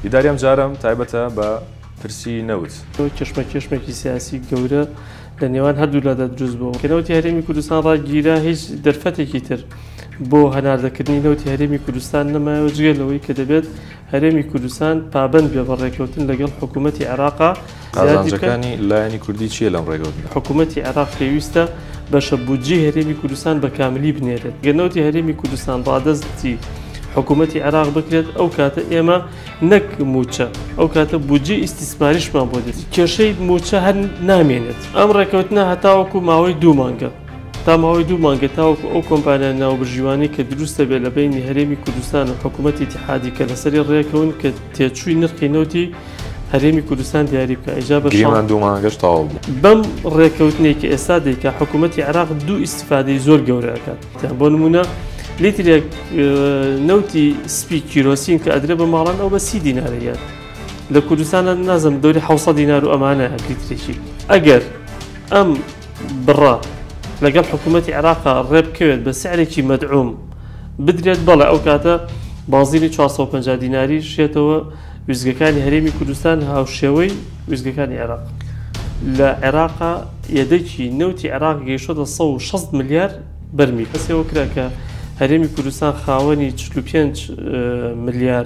دیداری ئەم جارم تایبەتە بە پرسی نەوت کشمە کشمێکی سیاسی گەورە لە نێوان هەردوو لەدە دروست بوو کە نەوتی هەرێمی کوردستان ڕاگیرا هیچ دەرفەتێکی تر بۆ هەناردەکردنی نەوتی هەرێمی کوردستان نەمایەوە جگە لەوەی کە دەبێت هەرێمی کوردستان پابەند بێ بە ڕێکەوتن لەگەڵ حکوومەتی عێراقا قازانجەکانی لایەنی کوردی چیە لەم ڕێکەوتن حکوومەتی عێراق پێویستە بەشە بودجی هەرێمی کوردستان بە کاملی بنێرێت گەنەوتی هەرێمی کوردستان ڕادەستی حکوومەتی عێراق بکرێت ئەو کاتە ئێمە نەک موچە ئەو کاتە بودجی ئیسیسماریشمان بۆ دێت کێشەی موچە هەر نامێنێت ئەم ڕێکەوتنە هەتاوەکو ماوەی دوو مانگە تا ماوەی دوو مانگە تاوەکو ئەو کۆمپانیا ناوبژیوانەی کە دروست دەبێت لە بەینی هەرێمی کوردستان و حکوومەتی ئیتیحادی کە لەسەری ڕێکەون کە تێچووی نرخی نەوتی هەرێمی کوردستان دیاری بکە ئیجا بە گریمان دوو مانگەش تەواو بوو بەم ڕێکەوتنەی کە ئێستا دەیکا حکوومەتی عێراق دوو ئیسیفادەی زۆر گەورە ئەکات تیان بۆ نمونە لیترێک نەوتی سپی کیرۆسین کە ئەدرێ بە ماڵان ئەو بە سی دینارەیەت لە کوردستانە نازم دەوری حوسە دینار و ئەمانە لیترێکی ئەگەر ئەم بڕە لەگەڵ حکوومەتی عێراقا ڕێ بکەوێت بە سعرێکی مەدعووم بدرێت بەڵێ ئەو کاتە بازینی 450 دیناری شێتەوە ویزگەکانی هەرێمی کوردستان هاوشێوەی ویزگەکانی عێراق لە عێراقا یەدەکی نەوتی عێراق گەیشتە 16 ملیار بەرمی کەسەوە کرا کە هەرێمی کوردستان خاوەنی 45 ملیار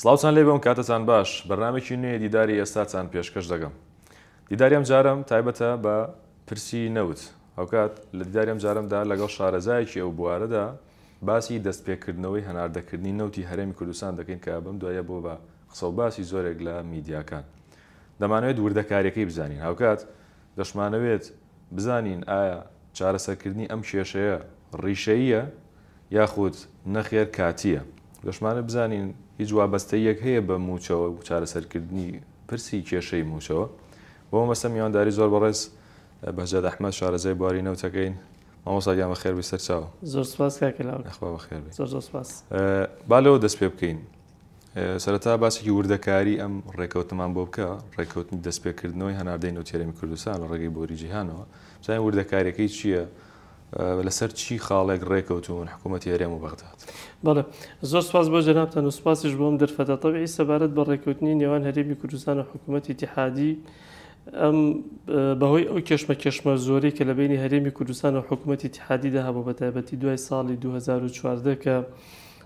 سڵاوتان لێبێ و کاتتان باش. بەرنامەێکی نوێ دیداری ئێستاتان پێشکەش دەگەم. دیداری ئەم جارەم تایبەتە بە پرسی نەوت. هاوکات لە دیداری ئەم جارەم دا لەگەڵ شارەزایەکی ئەو بوارە دا باسی دەست پێ کردنەوەی هەناردە کردنی نەوتی هەرێمی کوردستان دەکەین کە بەم دواییە بووە بە قسە و باسی زۆرێک لە میدیاکان. دەمانەوێت وردەکاریەکەی بزانین. هاوکات دەشمانەوێت بزانین ئایا چارەسەرکردنی ئەم کێشەیە ڕیشەییە یاخود نەخێر کاتییە. لەشمانە بزانین هیچ وابەستەییەک هەیە بە مووچەوە و چارەسەرکردنی پرسی کێشەی مووچەوە؟ بۆ مەبەستە میوانداری زۆر بەڕێز بەهجەت ئەحمەد شارەزای بواری نەوتەکەین. مامۆستا گیان بەخێربێی سەرچاو. زۆر سوپاس کاکە لاوک. یاخوا بەخێربێی. زۆر زۆر سوپاس. با لەوە دەست پێ بکەین. سەرەتا باسێکی وردەکاری ئەم ڕێکەوتنەمان بۆ بکە، ڕێکەوتنی دەستپێکردنەوەی هەناردەی نەوتیەرێمی کوردستان لە ڕێگەی بۆری جیهانەوە، بزانین وردەکاریەکەی چییە؟ لەسەر چی خاڵێک ڕێکەوتون حکوومەتی هەرێم و بەغداد؟ بەڵێ زۆر سپاس بۆ جەنابتان و سپاسیش بۆ ئەم دەرفەتە تەبعی سەبارەت بە ڕێکەوتنی نێوان هەرێمی کوردستان و حکوومەتی اتحادی ئەم بەهۆی ئەو کێشمە کێشمە زۆری کە لە بینی هەرێمی کوردستان و حکوومەتی اتحادیدا هەبوو بە تایبەتی دوای ساڵی 2014 کە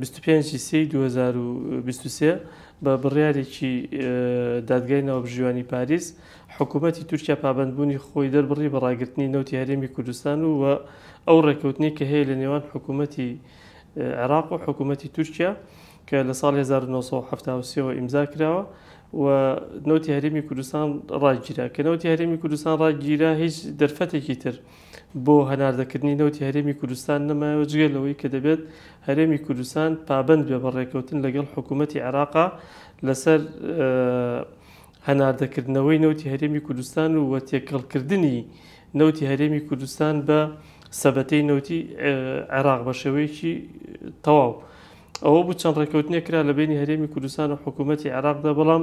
بیست و پێنج ی سێی دوو هەزار و بیست و سێ، بە بڕیارێکی دادگای ناوبژیوانی پاریس، حکوومەتی تورکیا پابەندبوونی خۆی دەربڕی بە ڕاگرتنی نەوتی هەرێمی کوردستان و ئەو ڕێککەوتنەی کە هەیە لە نێوان حکوومەتی عێراق و حکوومەتی تورکیا کە لە ساڵی هەزار و نۆ سەد و حەفتا و سێ وە ئیمزا کراوە و نەوتی هەرێمی کوردستان ڕاگیرا. کە نەوتی هەرێمی کوردستان ڕاگیرا، هیچ دەرفەتێکی تر بۆ هەناردەکردنی نەوتی هەرێمی کوردستان نەمایەوە، جگە لەوەی کە دەبێت هەرێمی کوردستان پابەند بێ بە ڕێککەوتن لەگەڵ حکوومەتی عێراقا لەسەر هەناردەکردنەوەی نەوتی هەرێمی کوردستان و وە تێکەڵکردنی نەوتی هەرێمی کوردستان بە سەبەتەی نەوتی عێراق بە شێوەیەکی تەواو ئەوە بوو چەند ڕێککەوتنێک کرا لە بینی هەرێمی کوردستان و حکوومەتی عێراقدا بەڵام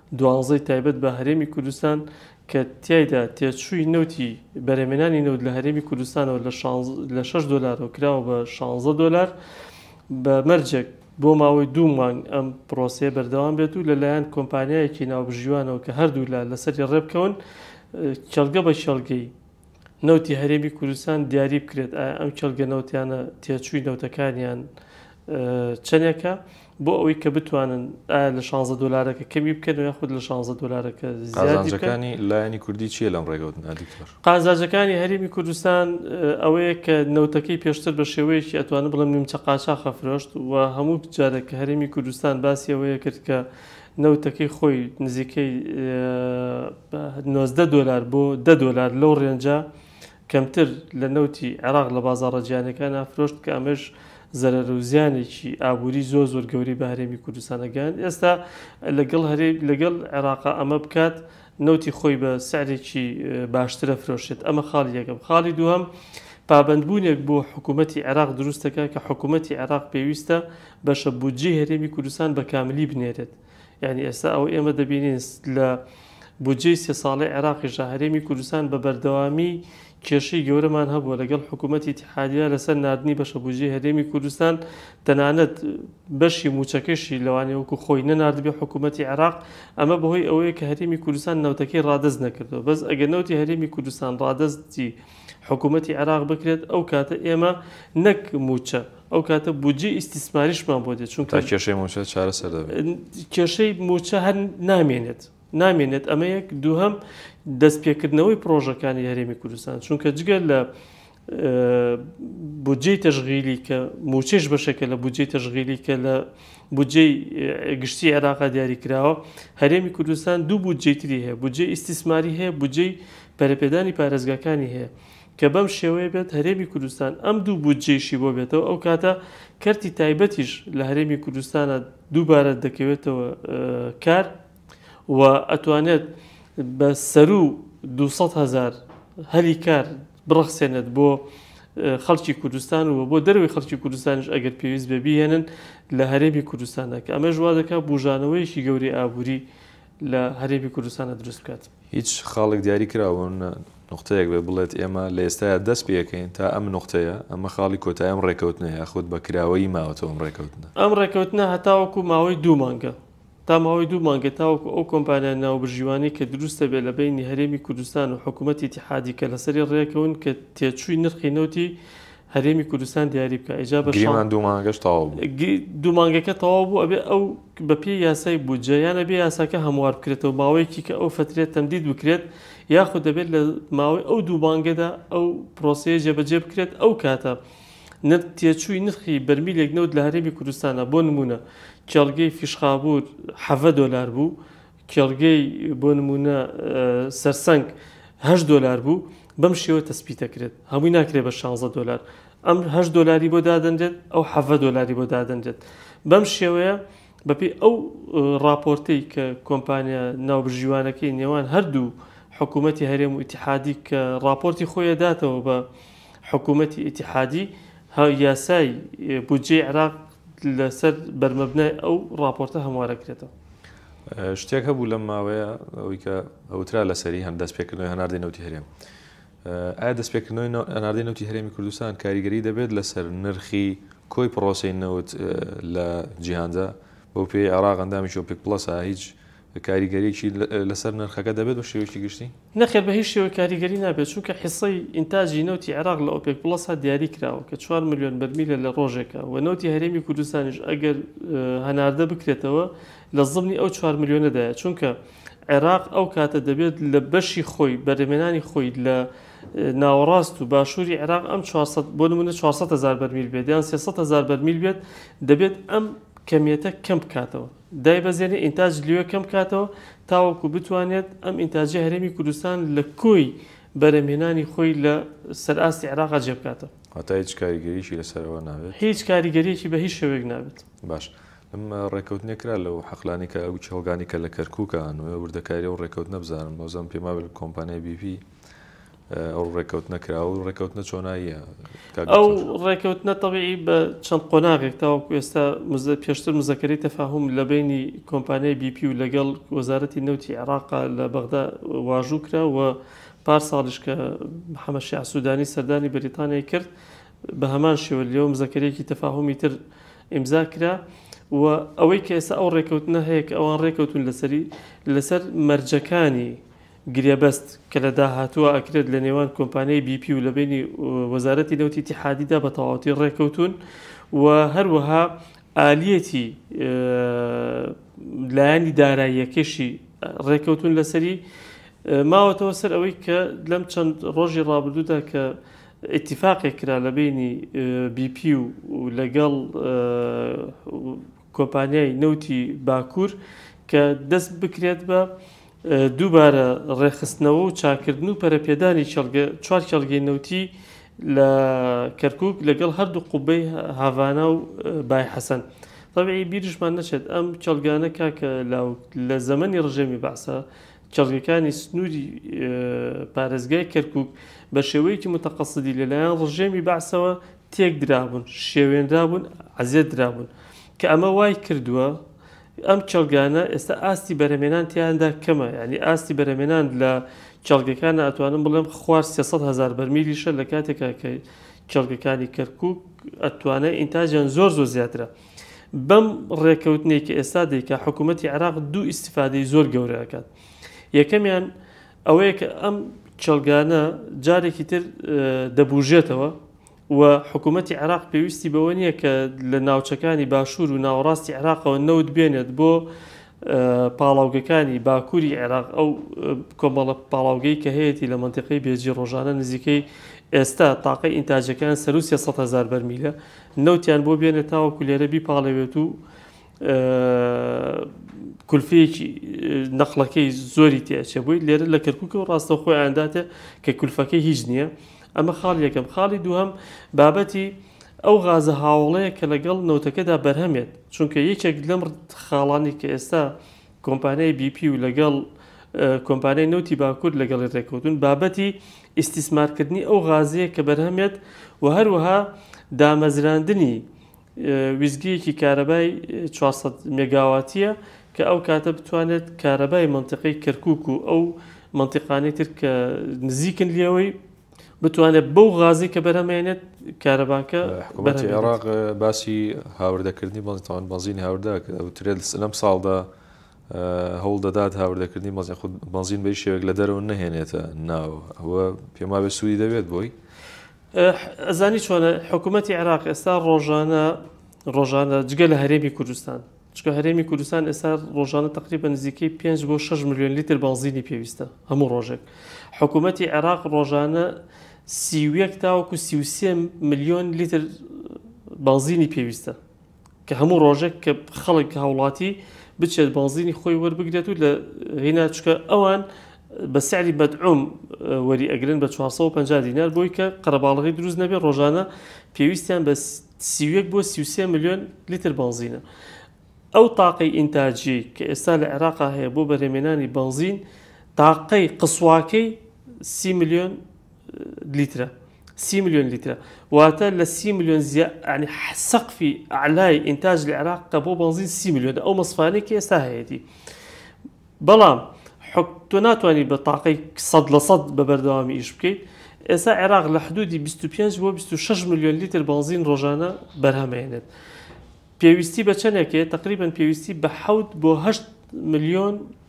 دوانزەی تایبەت بە هەرێمی کوردستان کە تیایدا تێچووی نەوتی بەرهەمێنانی نەوت لە هەرێمی کوردستانەوە لە شەش دۆلارەوە کراوە بە شانزە دۆلار بە مەرجێک بۆ ماوەی دوو مانگ ئەم پرۆسەیە بەردەوام بێت و لەلایەن کۆمپانیایەکی ناوبژیوانەوە کە هەردوولا لەسەری ڕێبکەون کێڵگە بە کێڵگەی نەوتی هەرێمی کوردستان دیاری بکرێت ئایا ئەم کێڵگە نەوتیانە تێچووی نەوتەکانیان چەندێکە بۆ ئەوەی کە بتوانن ئایا لە 16 دلارەکە کەمی بکەن و یاخود لە 16 دلارەکە زیادەکانی لایەنی کوردی چیە لەم ڕێگەوت نادیکتۆر قازاجەکانی هەرێمی کوردستان ئەوەیە کە نەوتەکەی پێشتر بە شێوەیەکی ئەتوانە بڵم نیمچە قاچاخە فرۆشت و هەموو جارێک کە هەرێمی کوردستان باسی ئەوەیە کرد کە نەوتەکەی خۆی نزیکەی نۆزدە دۆلار بۆ دە دۆلار لەو رێنجە کەمتر لە نەوتی عێراق لە بازاڕە جیهانیەکانا فرۆشت کە ئەمەش زەرەر و زیانێکی ئابووری زۆر زۆر گەورەی بە هەرێمی کوردستانە گەیاند ئێستا لەگەڵ هەرێم لەگەڵ عێراقا ئەمە بکات نەوتی خۆی بە سعرێکی باشترە فرۆشێت ئەمە خاڵی یەکەم خاڵی دووەم پابندبوونێک بۆ حکوومەتتی عێراق دروستەکە کە حکوومەتتی عێراق پێویستە بەشە بودجەی هەرێمی کوردستان بە کاملی بنێرێت یانی ئێستا ئەوە ئێمە دەبینین لە بودجەی سێ ساڵی عێراقیشدا هەرێمی کوردستان بە بەردەوامی کێشەی گەورەمان هەبووە لەگەڵ حکوومەتی تحادیا لەسەر نردنی بەشە بودجەی هەرێمی کوردستان تەنانەت بەشی موچەکەشی لەوانێ وەکو خۆی نەناردبێ حکوومەتی عێراق ئەمە بەهۆی ئەوەیە کە هەرێمی کوردستان نەوتەکەی ڕادەست نەکردەوە بەس ئەگەر نەوتی هەرێمی کوردستان ڕادەستی حکوومەتی عێراق بکرێت ئەو کاتە ئێمە نەک موچە ئەو کاتە بودجەی ئیستیسماریشمان بۆ دێت چونکە تا کێشەی موچە چارەسەر دەبێت ن- کێشەی موچە هەر نامێنێت نامێنێت ئەمە یەک دووهەم دەستپێکردنەوەی پرۆژەکانی هەرێمی کوردستان چونکە جگە لە اه، بودجەی تەشغیلی کە موچەش بەشێکە لە بودجەی تەشغیلی کە لە بودجەی اه، گشتی عێراقا دیاری کراوە هەرێمی کوردستان دوو بودجەی تری هەیە بودجەی ئیستیسماری هەیە بودجەی پەرەپێدانی پارێزگاکانی هەیە کە بەم شێوەیە بێت هەرێمی کوردستان ئەم دوو بودجەیشی بۆ بێتەوە ئەو کاتە کەرتی تایبەتیش لە هەرێمی کوردستانە دووبارە دەکەوێتەوە کار و ئەتوانێت بە سەرو 200 هزار هەلی کار بڕەخسێنێت بۆ خەڵکی کوردستان و بۆ دەروی خەڵکی کوردستانش ئەگەر پێویست بە بهێنن لە هەرێمی کوردستاندا کە ئەمەش وا دەکات بژانەوەیەکی گەوری ئابووری لە هەرێمی کوردستانە دروست بکات. هیچ خاڵێک دیاری کراوە نە نوقتەیەک بێت بڵێت ئێمە لە ئێستایا دەست پێکەین تا ئەم نوقتەیە، ئەمە خاڵی کۆتایی ئەم ڕێکەوتنە یاخود بە کراوەیی ماوەتەوە ئەم ڕێکەوتنە. ئەم ڕێکەوتنە هەتاوەکو ماوەی دوو مانگە، تا ماوەی دوو مانگە تاوەکو ئەو کۆمپانیا ناوبژیوانەی کە دروست دەبێت لە بەینی هەرێمی کوردستان و حکوومەتی ئیتیحادی کە لەسەری ڕێکەون کە تێچووی نرخی نەوتی هەرێمی کوردستان دیاری بکا ئیجا بە شەڕ گریمان دوو مانگەش تەواو بوو. گری دوو مانگەکە تەواو بوو ئەبێ ئەو بە پێی یاسای بودجە یان ئەبێ یاساکە هەموار بکرێتەوە ماوەیەکی کە ئەو فەترە تەمدید بکرێت یاخود دەبێت لە ماوەی ئەو دوو مانگەدا ئەو پرۆسەیە جێبەجێ بکرێت ئەو کاتە نر تێچووی نرخی بەرمیلێک نەوت لە هەرێمی کوردستانا بۆ نموونە کێڵگەی فیشخابوور حەڤە دۆلار بوو کێڵگەی بۆ نموونە سەرسەنگ هەشت دۆلار بوو بەم شێوە تەسپی دەکرێت هەمووی ناکرێت بە شانزە دۆلار ئەم هەشت دۆلاری بۆ دادەنرێت ئەو حەڤە دۆلاری بۆ دادەنرێت بەم شێوەیە بەپی ئەو راپۆرتەی کە کۆمپانیا ناوبژیوانەکەی نێوان هەردوو حکوومەتتی هەرێم و ئتیحادی کە راپۆرتی خۆیەداتەوە بە حکومەتی ئیتیحادی ها یاسای بودجەی عێراق لەسەر بەرمەبنای ئەو ڕاپۆرتە هەموارە کرێتەوە. شتێک هەبوو لەم ماوەیە ئەوی کە ئەوترا لەسەری هەند دەستپێکردنەوەی هەناردەی نەوتی هەرێم ئایا دەستپێکردنەوەی هەناردەی نەوتی هەرێمی کوردستان کاریگەری دەبێت لەسەر نرخی کۆی پڕۆسەی نەوت لە جیهاندا بەو پێی عێراق ئەندامی شۆپێک پڵەسە هیچ کاریگەریی لەسەر نرخەکە دەبێت بە شێوەیەکی گشتی؟ نەخێر بە هیچ شێوەیەک کاریگەری نابێت، چونکە حیسەی ئینتاجی نەوتی عێراق لە ئۆپێک پڵەسا دیاری کراوە کە چوار ملیۆن بەرمیلە لە ڕۆژێکا و نەوتی هەرێمی کوردستانیش ئەگەر هەناردە بکرێتەوە لە زمنی ئەو چوار ملیۆنەدایە، چونکە عێراق ئەو کاتە دەبێت لە بەشی خۆی بەرهەمێنانی خۆی لە ناوەڕاست و باشووری عێراق ئەم چوار سەد بۆ نموونە چوار سەد هەزار بەرمیل بێت یان سێ سەد هەزار بەرمیل بێت دەبێت ئەم کەمیەتە کەم بکاتەوە. دایبەزێنێت ئینتاج لەوێ کەم بکاتەوە تاوەکو بتوانێت ئەم ئینتاجەی هەرێمی کوردستان لە کۆی بەرهەمهێنانی خۆی لە سەر ئاستی عێراقا جێ بکاتەوە. واتە هیچ کاریگەرییەکی لە سەر ئەوە نابێت؟ هیچ کاریگەرییەکی بە هیچ شێوەیەک نابێت. باش. ئەم ڕێککەوتنە کرا لەو حەقلانەی کە ئەو کێڵگانەی کە لە کەرکووکە هەن و وردەکاری ئەو ڕێککەوتنە بزانم، وازم پێما بێت کۆمپانیای BP، ئەو ڕێککەوتنە کراوە و ڕێککەوتنە چۆناییە ئەو ڕێککەوتنە تەبیعی بە چەند قۆناغێک تاوەکو ئێستا پێشتر مزەکەری تەفاهم لە بینی کۆمپانیای بیپی و لەگەڵ وەزارەتی نەوتی عێراقا لە بەغدا واژوو کرا و پار ساڵیش کە محەممەد شیع سوودانی سەردانی بەریتانیای کرد بە هەمان شێوە لێوم زەکەرێکی تەفاهمی تر ئیمزا کرا و ئەوەی کە ئێستا ئەو ڕێککەوتنە هەیە کە ئەوان ڕێککەوتون لەسەری لەسەر مەرجەکانی گرێبەست کە لە داهاتووە ئەکرێت لە نێوان کۆمپانیای بی پی و لە بەینی وەزارەتی نەوتی ئیتیحادیدا بە تەواوەتی ڕێککەوتوون و هەروەها ئالیەتی لایەنی داراییەکەشی ڕێککەوتوون لەسەری ماوەتەوە سەر ئەوەی کە لەم چەند ڕۆژی ڕابردوودا کە ئیتیفاقێک کرا لە بینی بی پی و لەگەڵ کۆمپانیای نەوتی باکوور کە دەست بکرێت بە دووبارە ڕێکخستنەوە و چاککردن و پەرەپێدانی چوار کێڵگەی نەوتی لە کەرکووک لەگەڵ هەردوو قوبەی هاڤانا و بای حەسەن. تەبعی بیرشمان نەچێت ئەم کێڵگانە کاک لاوک لە زەمەنی ڕژێمی بەعسە کێڵگەکانی سنووری پارێزگای کەرکووک بە شێوەیەکی متەقەسدی لەلایەن ڕژێمی بەعسەوە تێک درابوون، شێوێنرابوون، ئەزیەت درابوون کە ئەمە وای کردووە ئەم کێڵگانە ئێستا ئاستی بەرەمێنان تیاندا کەمە ینی ئاستی بەرەمێنان لە کێڵگەکان ئەتوانم بڵێم خوار 300 هزار بەرمیلیشە لە کاتێکا کە کێڵگەکانی کەرکک ئەتوانای ئینتاجیان زۆر زۆر زیاترە بەم ڕێکەوتنێکی ئێستا دیکە حکوومەتتی عراق دوو ئیسیفادەی زۆر گەورەکات یەکەمیان ئەوەیە کە ئەم کێڵگانە جارێکی تر دەبووژێتەوە و حکوومەتی عێراق پێویستی بەوە نییە کە لە ناوچەکانی باشوور و ناوەڕاستی عێراقەوە نەوت بێنێت بۆ پاڵاوگەکانی باکووری عێراق ئەو کۆمەڵە پاڵاوگەی کە هەیەی لە منتیقی بێجی ڕۆژانە نزیکەی ئێستا تاقی ئینتاجەکان سەروسیە سە هزار بەرمیلە نەوتیان بۆ بێنێت تاوەکو لێرە بیپاڵەوێت و کولفەیەکی نەقڵەکەی زۆری تێچێ بووی لێرە لە کەرکک و ڕاستە خۆی ئانداتێ کە کولفەکەی هیچ نییە ئەمە خاڵ یەکەم خاڵی دووهم بابەتی ئەو غازە هاوڵەیە کە لەگەڵ نەوتەکەدا بەرهەمێت چونکە یەکێک لەم خاڵانی کە ئێستا کۆمپانیای بیپی و لەگەڵ کۆمپانیای نەوتی باکوور لەگەڵی ڕێکوتون بابەتی ئیسیسمارکردنی ئەو غازەیە کە بەرهەمێت و هەروەها دامەزراندنی ویستگەیەکی کارەبای چوار سەد مێگاواتییە کە ئەو کاتە بتوانێت کارەبای مەنتیقەی کەرکووک و ئەو مەنتیقانەی تر کە نزیکن لێوەی بتوانێت بەو غازی کە بەرەمێنێت کارەباکە حکوومەتی عێراق باسی هاوردەکردنی بەڵتان بەزین هاوردا وترێت لەم ساڵدا هەوڵ دەدات هاوردەکردنی مەزی خود بەزین بەی شێوێک لە دەرەوە نەهێنێتە ناوە ئەوە پێماوێ سوودی دەبێت بۆی ئەزانی چۆنە حکوومەتتی عێراق ئێستا ڕۆژانە ڕۆژانە جگە لە هەرێمی کوردستان چکە هەرێمی کوردستان ئێستا ڕۆژانە تقریبا نزیکەی 5 بۆ 6 میلیۆن لیتر بەنزینی پێویستە هەموو ڕۆژێک حکوومەتتی عێراق ڕۆژانە سیویەک تاوەکو سیوسێ میلیۆن لیتر بەنزینی پێویستە کە هەموو ڕۆژێک کە خەڵک هاوڵاتی بچێت بازینی خۆی وەربگرێت و لە هینا چکە ئەوان بە سعری بەدعوم وەری ئەگرن بە 450 دینار بۆی کە قەرەباڵغی دروست نەبێت ڕۆژانە پێویستیان بە سیوێک بۆ 33 میلیۆن لیتر بنزینە ئەو تاقەی ئینتاجی کە ئێستا لە عێراقا هەیە بۆ بەرهێمێنانی بنزین تاقەی قسواکەی سی میلیۆن لیترە سی ملیۆن لیترە واتە لە سی ملیۆن زیانی سەقفی ئەعلای ئینتاج لە عێراق کە بۆ بەنزین سی ملیۆن ئەو مەسفانەی کە ئێستا هەیەی بەڵام تۆ ناتوانانی بە تاقی سەد لە سەد بە بەردەوامی ئیش بکەیت ئێستا عێراق لە حدودی 25 بۆ 26 میلیۆن لیتر بەنزین ڕۆژانە بەرهەمێنێت پێویستی بە چەندێکێ تقریبان پێویستی بە حوت بۆ هەشت میلیۆن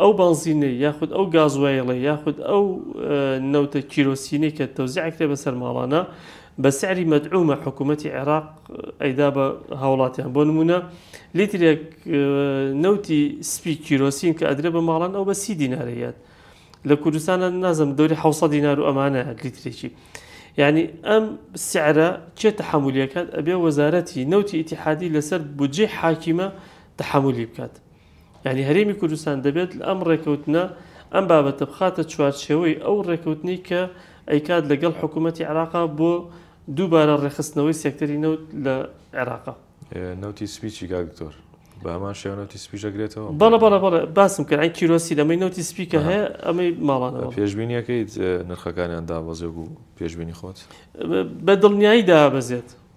ئەو بەنزینەی یاخود ئەو گازوایڵەی یاخود ئەو نەوتە کیرۆسینەی کە تەوزی ئەکرێ بەسەر ماڵانە بە سعری مەدعومە حکوومەتی عێراق ئەیدا بە هاوڵاتیان بۆ نمونە لیترێک نەوتی سپی کیرۆسین کە ئەدرێ بە ماڵان ئەو بە سی دینارەیەت لە کوردستانە نازم دەوری حە دینار و ئەمانە لیترێکی یعنی ئەم سعرە چێ تحملیەکات ئەبێ وەزارەتی نەوتی ئتیحادی لەسەر بجێ حاکیمە تحملی بکات یانی هەرێمی کوردستان دەبێت ئەم ڕێکەوتنە ئەم بابەتە بخاتە چوارچێوەی ئەو ڕێکەوتنەی کە ئەیکات لەگەڵ حکوومەتی عێراقا بۆ دووبارە ڕێخستنەوەی سێکتەری نەوت لە عێراقا نەوتی سپیچی گاکتۆر بەمان شێوەنەوتی سپیژەگرێتەوە بەڵە بەڵە بەڵە باسم کرد ئەین کیرۆسی لەمەی نەوتی سپیکە هەیە ئەمەی ماڵانەوە پێشببینیەکەیت نرخەکانیان دابەزێک و پێشببینی خۆت بە دڵنیایی دابەزێت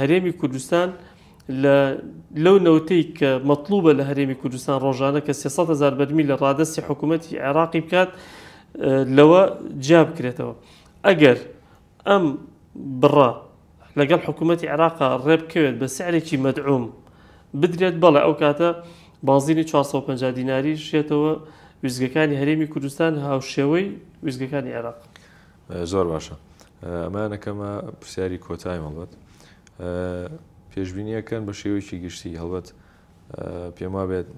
هەرێمی کوردستان لەو نەوتەی کە مەطلوبە لە هەرێمی کوردستان ڕۆژانە کە 300 هزار بەرمی لە ڕادستی حکوومەتتی عێراقی بکات لەوە جیا بکرێتەوە ئەگەر ئەم بڕە لەگەڵ حکوومەتتی عێراق ڕێبکەوێت بە سعرێکی مەدعوم بدرێت بەڵێ ئەو کاتە بازینی 450 دیناری شێتەوە ویزگەکانی هەرێمی کوردستان هاوشێوەی ویزگەکانی عێراق زۆر باشە ئەمانە کەمە پرسیاری کۆتای هەڵبەت پێشببینیەکەن بە شێوەیەکی گشتی هەڵبەت پێم وابێت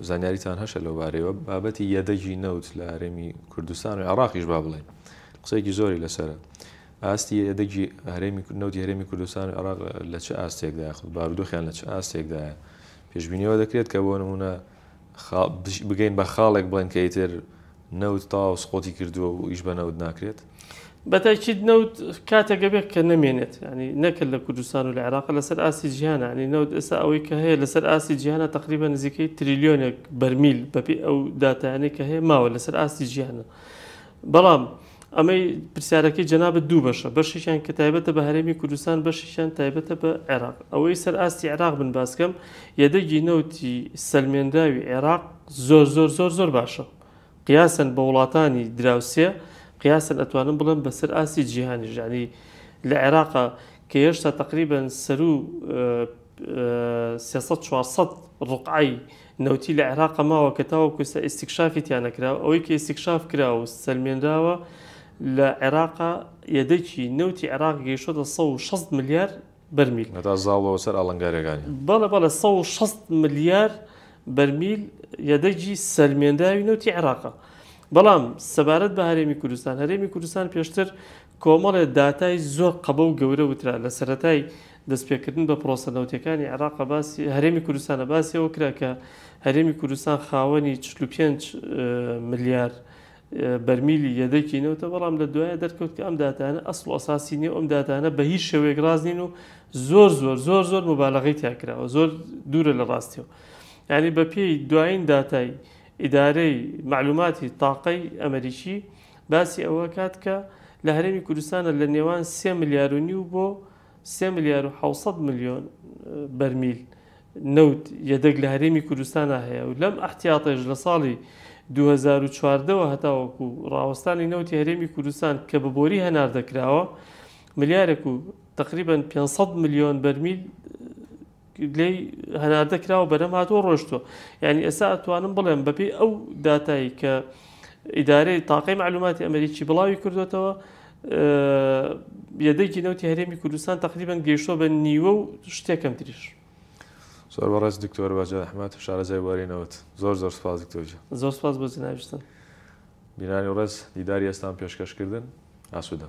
زانیاریتان هەشە لەو بارەوە بابەتی یەدەگی نەوت لە هەرێمی کوردستان و عراقیش با بڵێ قسێکی زۆری لەسرە ئاستی یەدەگی هەرێمی نەوتی هەرێمی کوردستان و عراق لە چ ئاستێکدا خود بارودۆخیان لە چ ئاستێکدایە پێشببینیەوە دەکرێت کە بۆ نمونە بگەین بە خاڵێک بڵێن کە ئیتر نەوت تەواو سقوتی کردووە و ئیش بە نەوت ناکرێت؟ بەتاکید نەوت کاتێک ئەبێت کە نەمێنێت یانی نەکرد لە کوردستان و لە عێراق لەسەر ئاستی جیهانە یانی نەوت ئێستا ئەوەی کە هەیە لەسەر ئاستی جیهانە تقریبا نزیکەی تریلیۆنێک بەرمیل بەپێی ئەو داتایانەی کە هەیە ماوە لەسەر ئاستی جیهانە بەڵام ئەمەی پرسیارەکەی جەنابەت دوو بەشە بەشێکیان کە تایبەتە بە هەرێمی کوردستان بەشێکیان تایبەتە بە عێراق ئەوەی سەر ئاستی عێراق بن باسکەم یەدەگی نەوتی سەلمێنراوی عێراق زۆر زۆر زۆر زۆر باشە قیاسەن بە وڵاتانی دراوسێ قیاسەن ئەتوانم بڵێم بەسەر ئاستی جیهانیش یعنی لە عێراقا کە هێشتا تقریبا سەرو سێ سەد چوار سەد ڕقعەی نەوتی لە عێراقا ماوە کە تاوەکو ئێستا ئیستیکشافی تیا نەکراوە ئەوەی کە ئیستیکشاف کراوە و سەلمێنراوە لە عێراقا یەدەکی نەوتی عێراق گەیشتۆتە سەد و شەست ملیار بەرمیل. هەتا زاڵبەوە سەر ئاڵنگاریەکانی. بەڵێ بەڵێ سەد و شەست ملیار بەرمیل یەدەگی سەلمێنداوی نەوتی عێراقە. بەڵام سەبارەت بە هەرێمی کوردستان، هەرێمی کوردستان پێشتر کۆمەڵێ داتای زۆر قەبە و گەورە وترا لە سەرەتای دەستپێکردن بە پرۆسە نەوتیەکانی عێراق باسی هەرێمی کوردستانە باسی ئەوە کرا کە هەرێمی کوردستان خاوەنی چل و پێنج ملیار بەرمیلی یەدەکی نەوتە، بەڵام لە دوایە دەرکەوت کە ئەم داتایانە ئەسڵ و ئەساسی نییە و ئەم داتایانە بە هیچ شێوەیەک ڕاست نین و زۆر زۆر زۆر زۆر موبالەغەی تیا کراوە زۆر دوورە لە ڕاستیەوە یعنی بە پێی دوایین داتای ئیدارەی معلوماتی تاقەی ئەمریکی باسی ئەوە کات کە لە هەرێمی کوردستانە لە نێوان سێ ملیارونی و بۆ سێ ملیار و حەوت سەد ملیۆن بەرمیل نەوت یەدەگ لە هەرێمی کوردستانا هەیە و لەم ئەحتیاتەیش لە ساڵی دوو هەزار و چواردە وە هەتاوەکو ڕاوەستانی نەوتی هەرێمی کوردستان کە بە بۆری هەناردە کراوە ملیارێک و تەقریبەن پێنج سەد ملیۆن بەرمیل لێی هەناردە کراوە بەرەم هاتووە ڕۆشتوە یعنی ئێستا ئەتوانم بڵێم بەپی ئەو داتایی کە ئیدارەی تاقی معلوماتی ئەمریکی بڵاوی کردوێتەوە یەدەگی نەوتی هەرێمی کوردستان تقریبان گەیشتۆ بە نیوە و شتێکم تریش زۆر بەڕێز دکتۆر باجە ئەحمد شارەزای وارینەوەت زۆر زۆر سپاس دکتۆرجە زۆر سپاس بۆ جناویستن بینانی ڕێز دیداری ئێستان پێشکەشکردن ئاسوودە